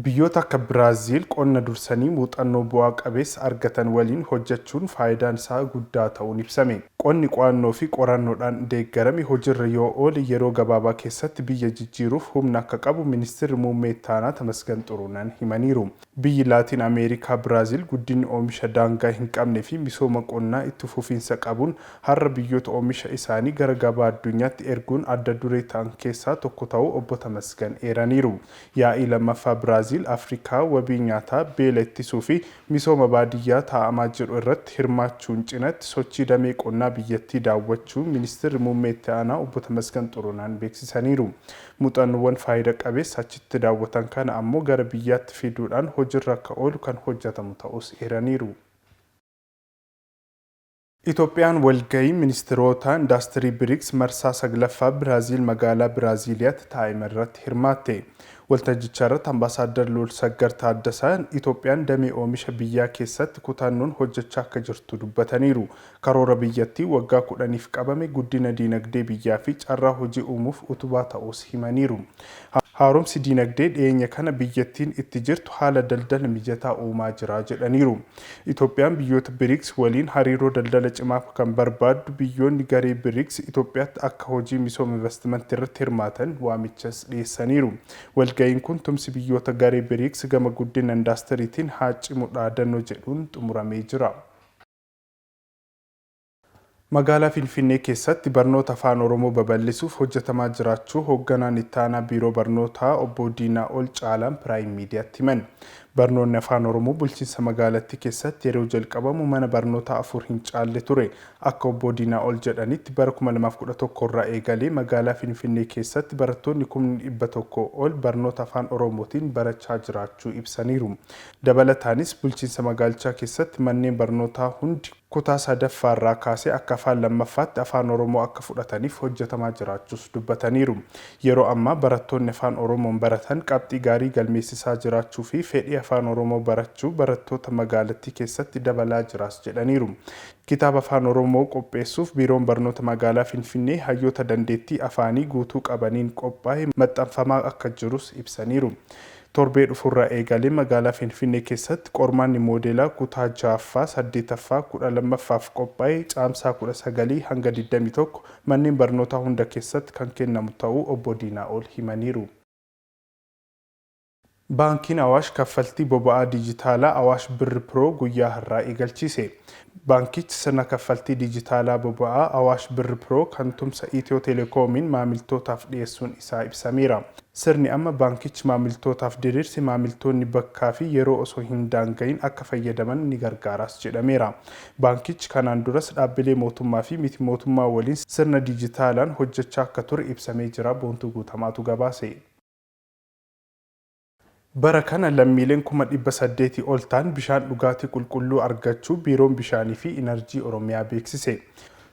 Biyyoota akka Biraaziil qonna dursanii muuxannoo bu'aa qabeessa argatan waliin hojjechuun faayidaan isaa guddaa ta'uun ibsame. Qonni qo'annoofi qorannoodhaan deeggarame hojirra yoo oole yeroo gabaabaa keessatti biyya jijjiiruuf humna akka qabu Ministirri Muummee Ittaanaa Tamasgan Xurunan himaniiru. Biyyi Laatiin Ameerikaa Biraaziil guddinni oomisha daangaa hin qabneefi misooma qonnaa itti fufiinsa qabuun har'a biyyoota oomisha isaanii gara gabaa addunyaatti erguun adda duree ta'an keessaa tokko ta'uu Obbo Tamasgan eeraniiru. Yaa'ii 2ffaa Biraaziil Afrikaa wabii nyaataa, beela ittisuu fi misooma baadiyyaa taa'amaa jiru irratti hirmaachuun cinatti sochii damee qonnaa biyyattii daawwachuu Ministirri Muummee Itti Aanaa Obbo Tamasgan Xurunaan beeksisaniiru. Muuxannoowwan faayida qabeessa achitti daawwatan kana ammoo gara biyyaatti fiduudhaan hojirra akka oolu kan hojjatamu ta'uus eeraniiru. Itoophiyaan walgahii ministiroota indaastirii Brics marsaa 9ffaa Biraaziil magaalaa Biraaziiliyaatti taa'emerratti hirmaatte. Waltajjicharratti Ambaasaaddar Luulsaggar Taaddasaa Itoophiyaan damee oomisha biyyaa keessatti kutannoon hojjechaa akka jirtu dubbataniiru. Karoora biyyattii waggaa 10f qabame guddina diinagdee biyyaafi carraa hojii uumuuf utubaa ta'uus himaniiru. Haaromsi diinagdee dhiyeenya kana biyyattiin itti jirtu haala daldala mijataa uumaa jira jedhaniiru. Itoophiyaan biyyoota Brics waliin hariiroo daldala cimaa kan barbaaddu biyyoonni garee Brics Itoophiyaatti akka hojii misooma invastimantiirratti hirmaatan waamichas dhiyeessaniiru. Walga'iin kun tumsi biyyoota garee Brics gama guddina indaastariitiin haa cimu dhaadannoo jedhuun xumuramee jira. Magaalaa Finfinnee keessatti barnoota Afaan Oromoo babal'isuuf hojjetamaa jiraachuu Hoogganaan Ittaanaa Biiroo Barnootaa Obbo Diinaa'ol Caalaan Piraayim Miidiyaatti himan. Barnoonni Afaan Oromoo bulchiinsa magaalattii keessatti yeroo jalqabamu mana barnootaa afur hin caalle ture. Akka Obbo Diinaa'ol jedhanitti bara 2011 irraa eegalee magaalaa Finfinnee keessatti barattoonni kumni 100 ol barnoota Afaan Oromootiin barachaa jiraachuu ibsaniiru. Dabalataanis bulchiinsa magaalichaa keessatti manneen barnootaa hundi Kutaa sadaffaa irraa kaasee akka afaan lammaffaatti Afaan Oromoo akka fudhataniif hojjetamaa jiraachuus dubbataniiru. Yeroo ammaa barattoonni Afaan Oromoon baratan qabxii gaarii galmeessisaa jiraachuu fi fedhii Afaan Oromoo barachuu barattoota magaalattii keessatti dabalaa jiraas jedhaniiru. Kitaaba Afaan Oromoo qopheessuuf Biiroon Barnoota Magaalaa Finfinnee hayyoota dandeettii afaanii guutuu qabaniin qophaa'e maxxanfamaa akka jirus ibsaniiru. Torbee dhufurraa eegalee magaalaa Finfinnee keessatti qormaanni moodeelaa kutaa ja'affaa, saddeetaffaa, kudha lammaffaaf qophaa'e Caamsaa kudha sagalii hanga digdamii tokko manneen barnootaa hunda keessatti kan kennamu ta'uu Obbo Diinaa'ol himaniiru. Baankiin Awaash kaffaltii boba'aa diijitaalaa Awaash Birr Pro guyyaa har'aa eegalchiise. Baankichi sirna kaffaltii dijitaalaa boba'aa Awaash Birr Pro kan tumsa Itiyoo Telekoomiin maamiltootaaf dhiyeessuun isaa ibsameera. Sirni amma baankichi maamiltootaaf diriirse maamiltoonni bakkaa fi yeroo osoo hin daanga'iin akka fayyadaman ni gargaaraas jedhameera. Baankichi kanaan duras dhaabbilee mootummaa fi miti mootummaa waliin sirna dijitaalaan hojjechaa akka ture ibsamee jira Boontuu Guutamaatu gabaase. Bara kana lammiileen kuma 800 ol ta'an bishaan dhugaatii qulqulluu argachuu Biiroon Bishaanii fi Inarjii Oromiyaa beeksise.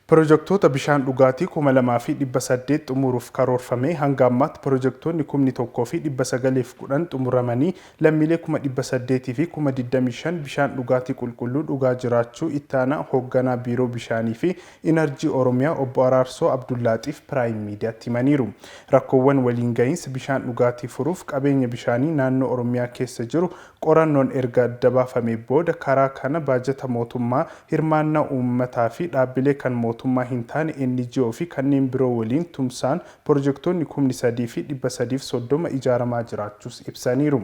Pirojektoota bishaan dhugaatii kuma 2 fi 800 xumuruuf karoorfamee hanga ammaatti pirojektoonni kumni 1 fi 910 xumuramanii lammiilee kuma 800 fi kuma 25 bishaan dhugaatii qulqulluu dhugaa jiraachuu Itti Aanaa Hoogganaa Biiroo Bishaanii fi Inarjii Oromiyaa Obbo Araarsoo Abdullaaxiif Piraayim Miidiyaatti himaniiru. Rakkoowwan waliin gahiinsa bishaan dhugaatii furuuf qabeenya bishaanii naannoo Oromiyaa keessa jiru qorannoon erga adda baafamee booda karaa kana baajata mootummaa, hirmaannaa uummataa fi dhaabbilee kan mootummaa hin taane, NGO, fi kanneen biroo waliin tumsaan pirojektoonni kumni 3 fi 330 ijaaramaa jiraachuus ibsaniiru.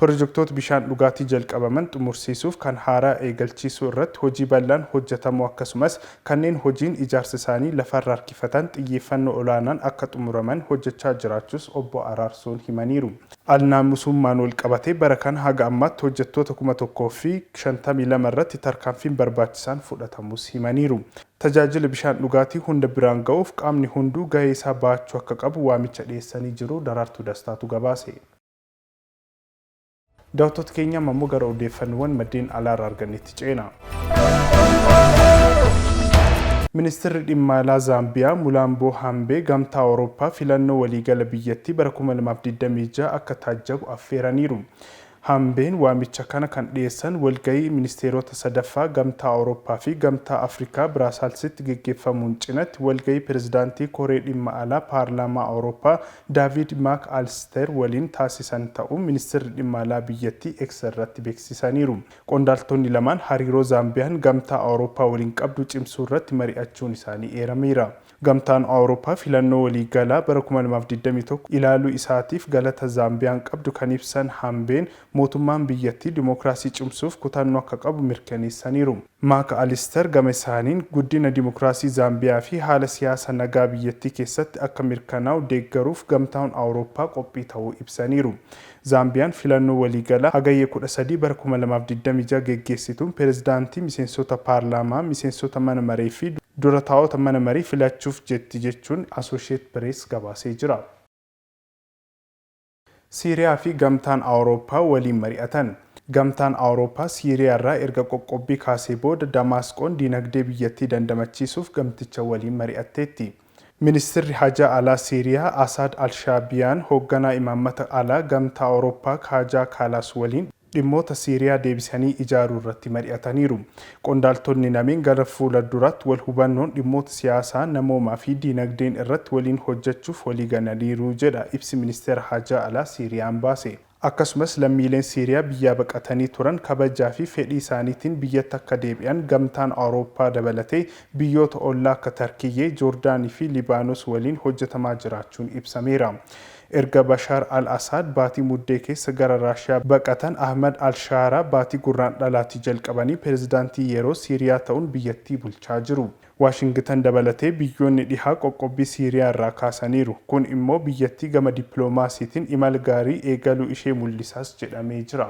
Pirojektoota bishaan dhugaatii jalqabaman xumursiisuuf kan haaraa eegalchiisuu irratti hojii bal'aan hojjetamuu akkasumas kanneen hojiin ijaarsa isaanii lafarra harkifatan xiyyeeffannoo olaanaan akka xumuraman hojjechaa jiraachuus Obbo Araarsoon himaniiru. Al-naamusummaan walqabatee bara kana haga ammaatti hojjettoota 1052 irratti tarkaanfiin barbaachisaan fudhatamuus himaniiru. Tajaajila bishaan dhugaatii hunda biraan ga'uuf qaamni hunduu gahee isaa bahachuu akka qabu waamicha dhiyeessanii jiru. Daraartuu Dastaatu gabaase. Daawwattoota keenya amma immoo gara odeeffannoowwan maddeen alaarra argannetti ceena. Ministirri Dhimma Alaa Zaambiyaa Mulaamboo Hambee Gamtaa Awurooppaa filannoo waliigala biyyattii bara 2026 akka taajjabu affeeraniiru. Hambeen waamicha kana kan dhiyeessan walga'ii ministeerota sadaffaa Gamtaa Awurooppaa fi Gamtaa Afrikaa Biraasaalsitti geggeeffamuun cinatti walga'ii pirezidaantii Koree Dhimma Alaa Paarlaamaa Awurooppaa Daaviid Maak Aalisteer waliin taasisan ta'uu Ministeerri Dhimma Alaa biyyattii X irratti beeksisaniiru. Qondaaltonni lamaan hariiroo Zaambiyaan Gamtaa Awurooppaa waliin qabdu cimsuurratti mari'achuun isaanii eerameera. Gamtaan Awurooppaa filannoo walii galaa bara kuma lamaa fi digdamii tokko ilaaluu isaatiif galata Zaambiyaan qabdu kan ibsan Haambeen, mootummaan biyyattii dimokiraasii cimsuuf kutannoo akka qabu mirkaneessaniiru. Maak Alister gamasaaniin, guddina dimokiraasii Zaambiyaa fi haala siyaasa nagaa biyyattii keessatti akka mirkanaa'u deeggaruuf Gamtaan Awurooppaa qophii ta'uu ibsaniiru. Zaambiyaan filannoo waliigalaa Hagayya kudha sadii bara kuma lamaa fi digdamii ja'a geggeessituun pirezidaantii, miseensota paarlaamaa, miseensota mana maree fi dura taa'ota mana marii filachuuf jetti jechuun Asoosheet Pirees gabaasee jira. Siiriyaa fi Gamtaan Awurooppaa waliin mari'atan. Gamtaan Awurooppaa Siiriyaarraa erga qoqqobbii kaasee booda Damaasqoon diinagdee biyyattii dandamachiisuuf gamticha waliin mari'atteetti. Ministirri Hajaa Alaa Siiriyaa Asaad Al-Shaabiyaan hoogganaa imaammata alaa Gamtaa Awurooppaa Kaajaa Kaalaas waliin dhimmoota Siiriyaa deebisanii ijaaruu irratti mari'ataniiru. Qondaaltonni lameen gara fuula duraatti wal hubannoon dhimmoota siyaasaa, namoomaa fi diinagdeen irratti waliin hojjechuuf walii galaniiru jedha ibsi Ministeera Haajaa Alaa Siiriyaan baase. Akkasumas lammiileen Siiriyaa biyyaa baqatanii turan kabajaa fi fedhii isaaniitiin biyyatti akka deebi'an Gamtaan Awurooppaa dabalatee biyyoota ollaa akka Tarkiyyee, Joordaanii fi Libaanos waliin hojjetamaa jiraachuun ibsameera. Erga Bashaar al-Asaad baatii Muddee keessa gara Raashiyaa baqatan Ahmad al-Shaaraa baatii Gurraandhalaatii jalqabanii pirezidaantii yeroo Siiriyaa ta'uun biyyattii bulchaa jiru. Waashingitan dabalatee biyyoonni dhihaa qoqqobbii Siiriyaa irraa kaasaniiru. Kun immoo biyyattii gama dippiloomaasiitiin imala gaarii eegaluu ishee mul'isaas jedhamee jira.